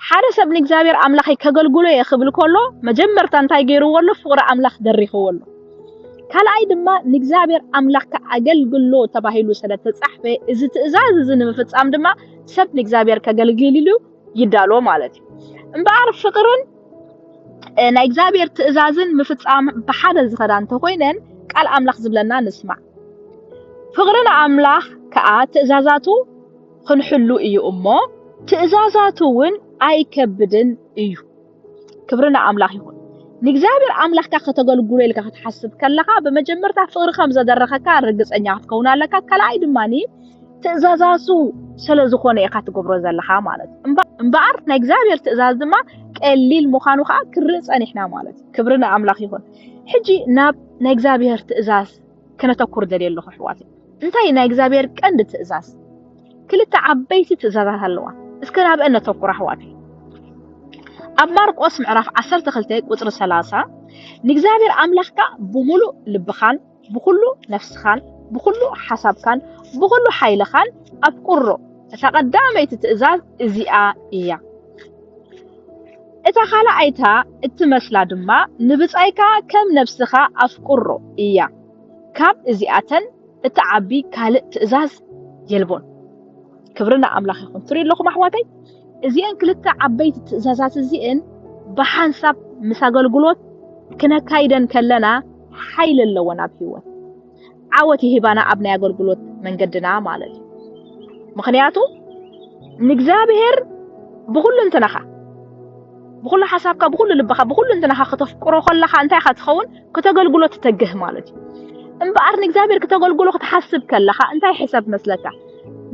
ሓደ ሰብ ንእግዚኣብሔር ኣምላኸይ ከገልግሎ እየ ክብል ከሎ መጀመርታ እንታይ ገይርዎ ኣሎ? ፍቕሪ ኣምላኽ ደሪኽዎ ኣሎ። ካልኣይ ድማ ንእግዚኣብሔር ኣምላኽካ ኣገልግሎ ተባሂሉ ስለ ተጻሕፈ እዚ ትእዛዝ እዚ ንምፍጻም ድማ ሰብ ንእግዚኣብሔር ከገልግል ኢሉ ይዳሎ ማለት እዩ። እምበኣር ፍቕርን ናይ እግዚኣብሔር ትእዛዝን ምፍጻም ብሓደ ዝኸዳ እንተኾይነን ቃል ኣምላኽ ዝብለና ንስማዕ ፍቕሪ ንኣምላኽ ከዓ ትእዛዛቱ ክንሕሉ እዩ እሞ ትእዛዛቱ እውን ኣይከብድን እዩ። ክብሪ ንኣምላኽ ይኹን። ንእግዚኣብሔር ኣምላኽካ ከተገልግሎ ኢልካ ክትሓስብ ከለኻ ብመጀመርታ ፍቕሪ ከም ዘደረኸካ ርግፀኛ ክትከውን ኣለካ ካልኣይ ድማ ትእዛዛቱ ስለ ዝኾነ ኢኻ ትገብሮ ዘለኻ ማለት እዩ እምበኣር ናይ እግዚኣብሔር ትእዛዝ ድማ ቀሊል ምዃኑ ከዓ ክርኢ ፀኒሕና ማለት እዩ ክብሪ ንኣምላኽ ይኹን ሕጂ ናብ ናይ እግዚኣብሔር ትእዛዝ ክነተኩር ደልየ ኣለኹ ኣሕዋት። እንታይ እዩ ናይ እግዚኣብሔር ቀንዲ ትእዛዝ? ክልተ ዓበይቲ ትእዛዛት ኣለዋ። እስከ ናብአን ነተኩር ኣሕዋት። ኣብ ማርቆስ ምዕራፍ 12 ቁፅሪ 30 ንእግዚኣብሔር ኣምላኽካ ብምሉእ ልብኻን ብኩሉ ነፍስኻን ብኩሉ ሓሳብካን ብኩሉ ሓይልኻን ኣፍቅሮ። እታ ቀዳመይቲ ትእዛዝ እዚኣ እያ። እታ ካልኣይታ እትመስላ ድማ ንብጻይካ ከም ነብስኻ ኣፍቅሮ እያ። ካብ እዚኣተን እትዓቢ ካልእ ትእዛዝ የልቦን። ክብሪ ንኣምላኽ ይኹን። ትሪኡ ኣለኹም ኣሕዋተይ፣ እዚአን ክልተ ዓበይቲ ትእዛዛት እዚእን ብሓንሳብ ምስ ኣገልግሎት ክነካይደን ከለና ሓይሊ ኣለወን ኣብ ህይወት ዓወት ይህባና ኣብ ናይ ኣገልግሎት መንገድና ማለት እዩ ምክንያቱ ንእግዚኣብሔር ብኩሉ እንትናኻ ብኩሉ ሓሳብካ ብኩሉ ልብኻ ብኩሉ እንትናኻ ከተፍቅሮ ከለኻ እንታይ ኢኻ ትኸውን ከተገልግሎ ትተግህ ማለት እዩ እምበኣር ንእግዚኣብሔር ክተገልግሎ ክትሓስብ ከለኻ እንታይ ሕሰብ መስለካ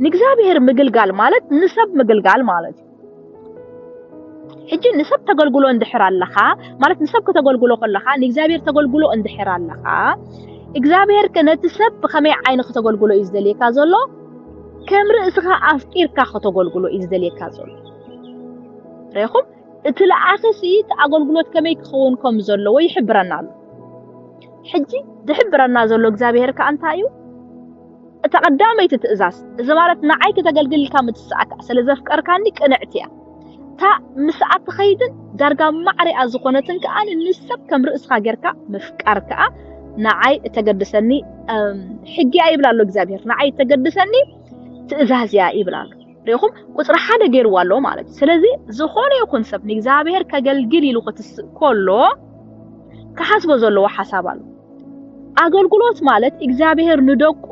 ንእግዚኣብሔር ምግልጋል ማለት ንሰብ ምግልጋል ማለት እዩ ሕጂ ንሰብ ተገልግሎ እንድሕር ኣለኻ ማለት ንሰብ ከተገልግሎ ከለኻ ንእግዚኣብሔር ተገልግሎ እንድሕር ኣለኻ እግዚኣብሔር ከ ነቲ ሰብ ብኸመይ ዓይኒ ከተገልግሎ እዩ ዝደልየካ ዘሎ ከም ርእስኻ ኣፍቂርካ ከተገልግሎ እዩ ዝደልየካ ዘሎ ሬኹም እቲ ለኣኺ ሲ እቲ ኣገልግሎት ከመይ ክኸውን ከም ዘለዎ ይሕብረና ኣሎ ሕጂ ዝሕብረና ዘሎ እግዚኣብሔር ከ እንታይ እዩ እታ ቀዳመይቲ ትእዛዝ፣ እዚ ማለት ንዓይ ከተገልግል ኢልካ ምትሳእካ፣ ስለ ዘፍቀርካኒ ቅንዕቲ እያ። እታ ምስኣ ትኸይድን ዳርጋ ማዕሪኣ ዝኾነትን ከኣ ንሰብ ከም ርእስኻ ጌርካ ምፍቃር ከኣ ንዓይ እተገድሰኒ ሕጊ እያ ይብል ኣሎ እግዚኣብሄር። ንዓይ እተገድሰኒ ትእዛዝ እያ ይብል ኣሎ። ሪኢኹም ቁፅሪ ሓደ ገይርዎ ኣሎ ማለት እዩ። ስለዚ ዝኾነ ይኹን ሰብ ንእግዚኣብሄር ከገልግል ኢሉ ክትስእ ከሎ ክሓስቦ ዘለዎ ሓሳብ ኣሎ። ኣገልግሎት ማለት እግዚኣብሔር ንደቁ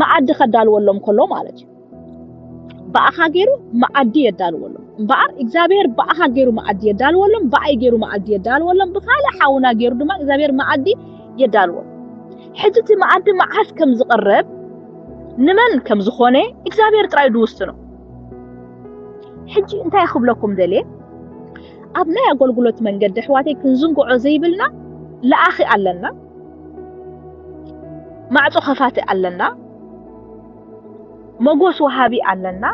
መኣዲ ከዳልወሎም ከሎ ማለት እዩ ብኣኻ ገይሩ መኣዲ የዳልወሎም እምበኣር እግዚኣብሔር ብኣኻ ገይሩ መኣዲ የዳልወሎም ብኣይ ገይሩ መኣዲ የዳልወሎም ብካልእ ሓውና ገይሩ ድማ እግዚኣብሔር መኣዲ የዳልወሎም ሕጂ እቲ መኣዲ መዓስ ከም ዝቕረብ ንመን ከም ዝኾነ እግዚኣብሔር ጥራይ ድውስኖ ሕጂ እንታይ ክብለኩም ደልየ ኣብ ናይ ኣገልግሎት መንገዲ ኣሕዋተይ ክንዝንግዖ ዘይብልና ለኣኺ ኣለና፣ ማዕጾ ከፋቲ ኣለና፣ መጎስ ወሃቢ ኣለና፣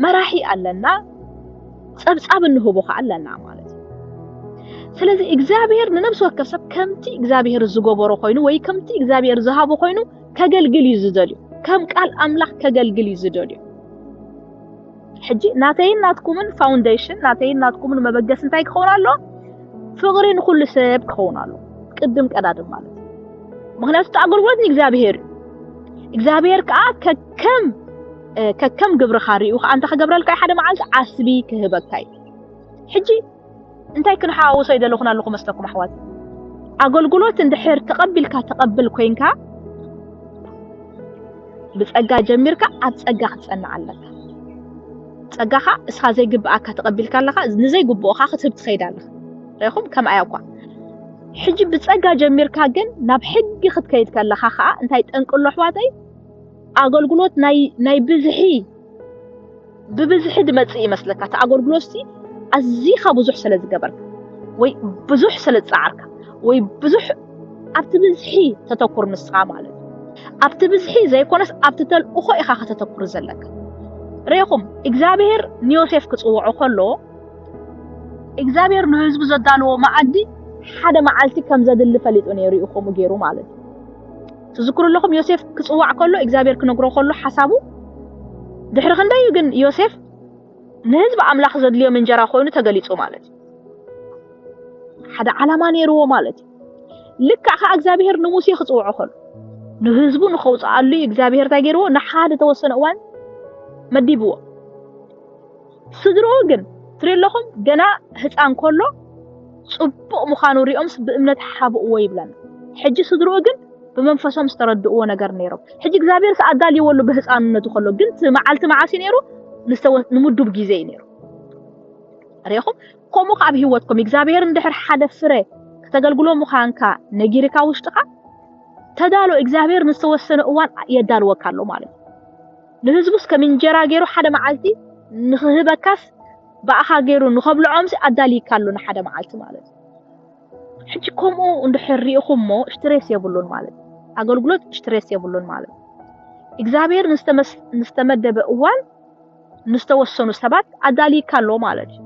መራሒ ኣለና፣ ጸብጻብ እንህቦ ከ ኣለና ማለት እዩ። ስለዚ እግዚኣብሔር ንነብሲ ወከፍ ሰብ ከምቲ እግዚኣብሔር ዝገበሮ ኮይኑ ወይ ከምቲ እግዚኣብሔር ዝሃቦ ኮይኑ ከገልግል እዩ ዝደልዩ ከም ቃል ኣምላኽ ከገልግል እዩ ዝደልዩ። ሕጂ ናተይን ናትኩምን ፋውንዴሽን ናተይን ናትኩምን መበገሲ እንታይ ክኸውን ኣሎ? ፍቕሪ ንኹሉ ሰብ ክኸውን ኣሎ። ቅድም ቀዳድም ማለት ምክንያቱ እቲ ኣገልግሎት ንእግዚኣብሄር እዩ። እግዚኣብሄር ከዓ ከከም ከከም ግብርኻ ሪኡ ከዓ እንታይ ክገብረልካ እዩ ሓደ መዓልቲ ዓስቢ ክህበካ እዩ ሕጂ እንታይ ክንሓዋውሶ ይደለኹን ኣለኹ መስለኩም ኣሕዋት? ኣገልግሎት እንድሕር ተቐቢልካ ተቐብል ኮይንካ ብጸጋ ጀሚርካ ኣብ ጸጋ ክትጸንዕ ኣለካ። ጸጋኻ እስኻ ዘይግብኣካ ተቐቢልካ ኣለኻ፣ ንዘይግብኦኻ ክትህብ ትኸይድ ኣለኻ። ርኢኹም ከምኣ እኳ ሕጂ ብጸጋ ጀሚርካ ግን ናብ ሕጊ ክትከይድ ከለኻ ከዓ እንታይ ጠንቅሎ ኣሕዋተይ ኣገልግሎት ናይ ናይ ብዝሒ ብብዝሒ ድመጽእ ይመስለካ እቲ ኣገልግሎትሲ ኣዚኻ ብዙሕ ስለ ዝገበርካ ወይ ብዙሕ ስለ ዝጸዓርካ ወይ ብዙሕ ኣብቲ ብዝሒ ተተኩር ንስኻ ማለት ኣብቲ ብዝሒ ዘይኮነስ ኣብቲ ተልእኾ ኢኻ ከተተኩር ዘለካ ሬኹም እግዚኣብሄር ንዮሴፍ ክጽውዖ ከሎ እግዚኣብሄር ንህዝቡ ዘዳለዎ መዓዲ ሓደ መዓልቲ ከም ዘድሊ ፈሊጡ ነይሩ እዩ ከምኡ ገይሩ ማለት እዩ ትዝክሩ ኣለኹም ዮሴፍ ክጽዋዕ ከሎ እግዚኣብሔር ክነግሮ ከሎ ሓሳቡ ድሕሪ ክንደይ እዩ ግን ዮሴፍ ንህዝቢ ኣምላኽ ዘድልዮም እንጀራ ኮይኑ ተገሊጹ ማለት እዩ ሓደ ዓላማ ነይርዎ ማለት እዩ ልክዕ ከዓ እግዚኣብሔር ንሙሴ ክጽውዖ ከሎ ንህዝቡ ንኸውፅኣሉ እዩ እግዚኣብሔር እንታይ ገይርዎ ንሓደ ተወሰነ እዋን መዲብዎ ስድርኡ ግን ትሪኡ ኣለኹም ገና ህፃን ከሎ ፅቡቕ ምዃኑ ሪኦምስ ብእምነት ሓብእዎ ይብለና። ሕጂ ስድርኡ ግን ብመንፈሶም ዝተረድእዎ ነገር ነይሮም። ሕጂ እግዚኣብሔርስ ኣዳልይዎ ኣሎ ብህፃንነቱ ከሎ ግን እቲ መዓልቲ መዓስ እዩ ነይሩ? ንዝተወ- ንምዱብ ግዜ እዩ ነይሩ። ሪኢኹም ከምኡ ከዓ ኣብ ህይወትኩም እግዚኣብሔር እንድሕር ሓደ ፍረ ከተገልግሎ ምዃንካ ነጊርካ ውሽጥኻ ተዳሎ እግዚኣብሔር ንዝተወሰነ እዋን የዳልወካ ኣሎ ማለት እዩ። ንህዝቡስ ከም እንጀራ ገይሩ ሓደ መዓልቲ ንኽህበካስ ብኣኻ ገይሩ ንኸብልዖምሲ ኣዳልይካሉ ንሓደ መዓልቲ ማለት እዩ። ሕጂ ከምኡ እንድሕር ርኢኹሞ እሽትሬስ የብሉን ማለት እዩ። ኣገልግሎት እሽትሬስ የብሉን ማለት እዩ። እግዚኣብሔር ንዝተመደበ እዋን ንዝተወሰኑ ሰባት ኣዳልይካ ኣሎ ማለት እዩ።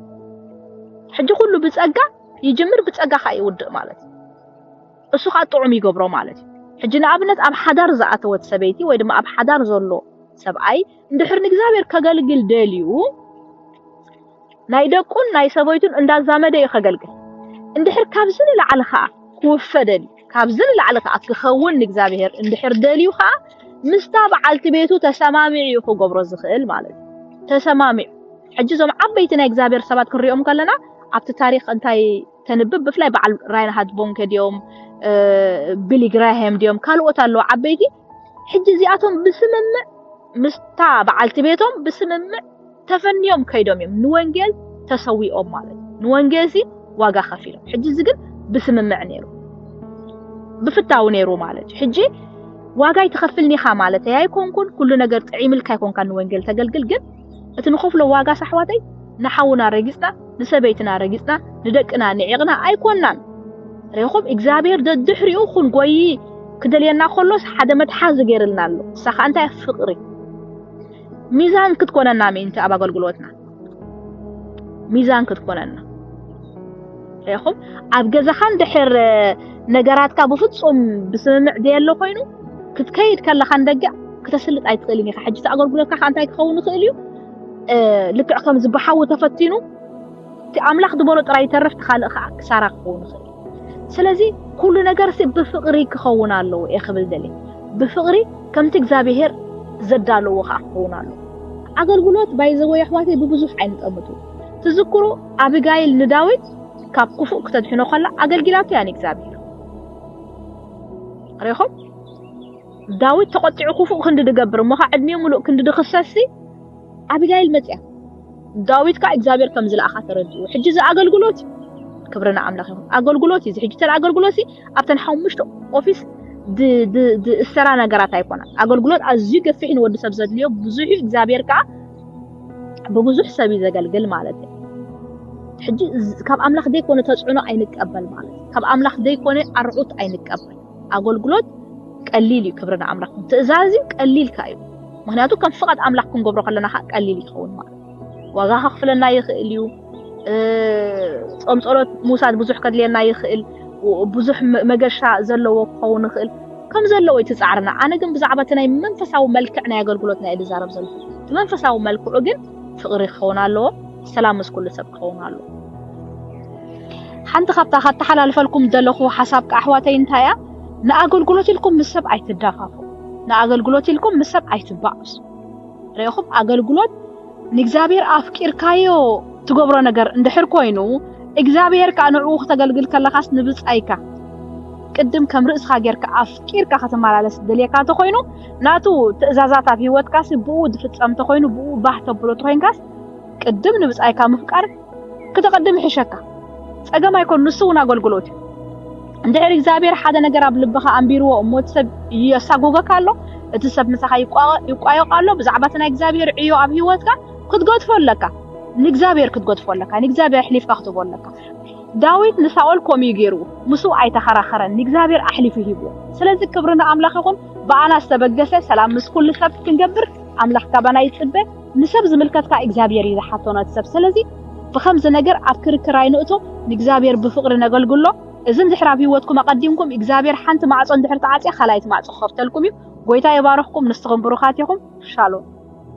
ሕጂ ኩሉ ብጸጋ ይጅምር ብጸጋ ከኣ ይውድእ ማለት እዩ። እሱ ኸኣ ጥዑም ይገብሮ ማለት እዩ። ሕጂ ንኣብነት ኣብ ሓዳር ዝኣተወት ሰበይቲ ወይ ድማ ኣብ ሓዳር ዘሎ ሰብኣይ እንድሕር ንእግዚኣብሔር ከገልግል ደልዩ ናይ ደቁን ናይ ሰበይቱን እንዳዛመደ እዩ ከገልግል። እንድሕር ካብዚ ንላዕሊ ኸኣ ክውፈ ደልዩ ካብዚ ንላዕሊ ኸኣ ክኸውን ንእግዚኣብሔር እንድሕር ደልዩ ኸኣ ምስታ በዓልቲ ቤቱ ተሰማሚዑ እዩ ክገብሮ ዝኽእል ማለት እዩ። ተሰማሚዑ ሕጂ እዞም ዓበይቲ ናይ እግዚኣብሔር ሰባት ክንሪኦም ከለና ኣብቲ ታሪክ እንታይ ተንብብ ብፍላይ በዓል ራይንሃት ቦንከ ድዮም ቢሊ ግራሃም ድዮም ካልኦት ኣለዉ ዓበይቲ ሕጂ እዚኣቶም ብስምምዕ ምስታ በዓልቲ ቤቶም ብስምምዕ ተፈንዮም ከይዶም እዮም ንወንጌል ተሰዊኦም ማለት ንወንጌል ሲ ዋጋ ከፊሎም ሕጂ እዚ ግን ብስምምዕ ነይሩ ብፍታው ነይሩ ማለት እዩ ሕጂ ዋጋ ይትኸፍልኒኻ ማለት እያ ኣይኮንኩን ኩሉ ነገር ጥዒምልካ ኣይኮንካ ንወንጌል ተገልግል ግን እቲ ንኸፍሎ ዋጋስ ኣሕዋተይ ንሓውና ረጊጽና ንሰበይትና ረጊጽና ንደቅና ንዒቕና ኣይኮናን ሬኹም እግዚኣብሔር ደድሕሪኡ ክንጎይ ክደልየና ከሎስ ሓደ መትሓዚ ገይርልና ኣሎ እሳ ከዓ እንታይ ፍቅሪ ሚዛን ክትኮነና ምእንቲ ኣብ ኣገልግሎትና ሚዛን ክትኮነና ሬኹም ኣብ ገዛኻን ድሕር ነገራትካ ብፍጹም ብስምምዕ ዘየለ ኮይኑ ክትከይድ ከለኻን ደገ ክተስልጥ ኣይትኽእልን ኢኻ ሕጂ ተኣገልግሎትካ ከ እንታይ ክኸውን ይኽእል እዩ ልክዕ ከም ዝበሓዊ ተፈቲኑ እቲ ኣምላኽ ዝበሎ ጥራይ ይተርፍ እቲ ካልእ ከዓ ክሳራ ክኸውን ይኽእል ስለዚ ኩሉ ነገር ሲ ብፍቕሪ ክኸውን ኣለዎ እየ ክብል ደልየ ብፍቕሪ ከምቲ እግዚኣብሄር ዘዳለዎ ከዓ ክኸውን ኣለዎ ኣገልግሎት ባይዘወ ኣሕዋተይ ብብዙሕ ኣይንጠምቱ ትዝክሩ ኣብጋይል ንዳዊት ካብ ክፉእ ክተድሕኖ ከላ ኣገልጊላቶ እያ ንእግዚኣብሄር ሪኹም ዳዊት ተቆጢዑ ኩፉእ ክንዲ ድገብር እሞ ከኣ ዕድሚኡ ምሉእ ክንዲ ድክሰስሲ ኣቢጋይል መጺኣ ዳዊት ከኣ እግዚኣብሔር ከም ዝለኣኻ ተረዲኡ ሕጂ እዚ ኣገልግሎት እዩ ክብሪ ንኣምላኽ ይኹን ኣገልግሎት እዩ እዚ ሕጂ ተን ኣገልግሎት እዚ ኣብተን ሓሙሽተ ኦፊስ ዝእሰራ ነገራት ኣይኮነ ኣገልግሎት ኣዝዩ ገፊሕ ንወዲ ሰብ ዘድልዮ ብዙሕ እዩ እግዚኣብሔር ከዓ ብብዙሕ ሰብ እዩ ዘገልግል ማለት እዩ ሕጂ ካብ ኣምላኽ ዘይኮነ ተፅዕኖ ኣይንቀበል ማለት እዩ ካብ ኣምላኽ ዘይኮነ ኣርዑት ኣይንቀበል ኣጎልጉሎት ቀሊል እዩ ክብሪ ንኣምላኽ ትእዛዝ እዩ ቀሊልካ እዩ ምክንያቱ ከም ፍቓድ ኣምላኽ ክንገብሮ ከለና ከኣ ቀሊል ይኸውን ማለት ዋጋ ከኽፍለና ይኽእል እዩ ጾም ጸሎት ምውሳድ ብዙሕ ከድልየና ይኽእል ብዙሕ መገሻ ዘለዎ ክኸውን ይኽእል ከም ዘለዎ እዩ ትጻዕርና ኣነ ግን ብዛዕባ እቲ ናይ መንፈሳዊ መልክዕ ናይ ኣገልግሎትና እየ ዝዛረብ ዘለኹ እቲ መንፈሳዊ መልክዑ ግን ፍቕሪ ክኸውን ኣለዎ ሰላም ምስ ኩሉ ሰብ ክኸውን ኣሎ። ሓንቲ ካብታ ካተሓላልፈልኩም ዘለኹ ሓሳብ ኣሕዋተይ እንታይ እያ? ንኣገልግሎት ኢልኩም ምስ ሰብ ኣይትዳፋፉ። ንኣገልግሎት ኢልኩም ምስ ሰብ ኣይትባኣሱ። ርኢኹም ኣገልግሎት ንእግዚኣብሔር ኣፍቂርካዮ ትገብሮ ነገር እንድሕር ኮይኑ እግዚኣብሔር ከዓ ንዕኡ ክተገልግል ከለኻስ ንብጻይካ ቅድም ከም ርእስኻ ጌርካ ኣፍቂርካ ከተመላለስ ደልየካ እንተኾይኑ ናቱ ትእዛዛት ኣብ ህይወትካሲ ብኡ ዝፍጸም እንተኾይኑ ብኡ ባህ ተብሎ እንተኾይንካስ ቅድም ንብጻይካ ምፍቃር ክተቐድም ይሕሸካ። ጸገም ኣይኮን ንሱ እውን ኣገልግሎት እዩ። እንድሕር እግዚኣብሔር ሓደ ነገር ኣብ ልብኻ ኣንቢርዎ እሞ እቲ ሰብ የሳጎገካ ኣሎ እቲ ሰብ ምሳኻ ይቋየቕ ኣሎ ብዛዕባ እቲ ናይ እግዚኣብሔር ዕዮ ኣብ ህይወትካ ክትገድፎ ኣለካ ንእግዚኣብሔር ክትገድፎ ኣለካ ንእግዚኣብሔር ኣሕሊፍካ ክትቦ ኣለካ ዳዊት ንሳኦል ከምኡ እዩ ገይርዎ ምስ ኣይተኸራኸረን ንእግዚኣብሔር ኣሕሊፉ ሂብዎ ስለዚ ክብሪ ንኣምላኽ ይኹን ብኣና ዝተበገሰ ሰላም ምስ ኩሉ ሰብ ክንገብር ኣምላኽ ካባና ይጽበ ንሰብ ዝምልከት ከኣ እግዚኣብሔር እዩ ዝሓቶ ነቲ ሰብ ሰለዚ ብከምዚ ነገር ኣብ ክርክር ኣይንእቶ ንእግዚኣብሔር ብፍቅሪ ነገልግሎ እዝን ድሕር ኣብ ህይወትኩም ኣቀዲምኩም እግዚኣብሔር ሓንቲ ማዕጾ እንድሕር ተዓጽያ ካልኣይቲ ማዕጾ ክከፍተልኩም እዩ ጎይታ ይባርክኩም ንስኩም ብሩካት ኢኩም ሻሎም።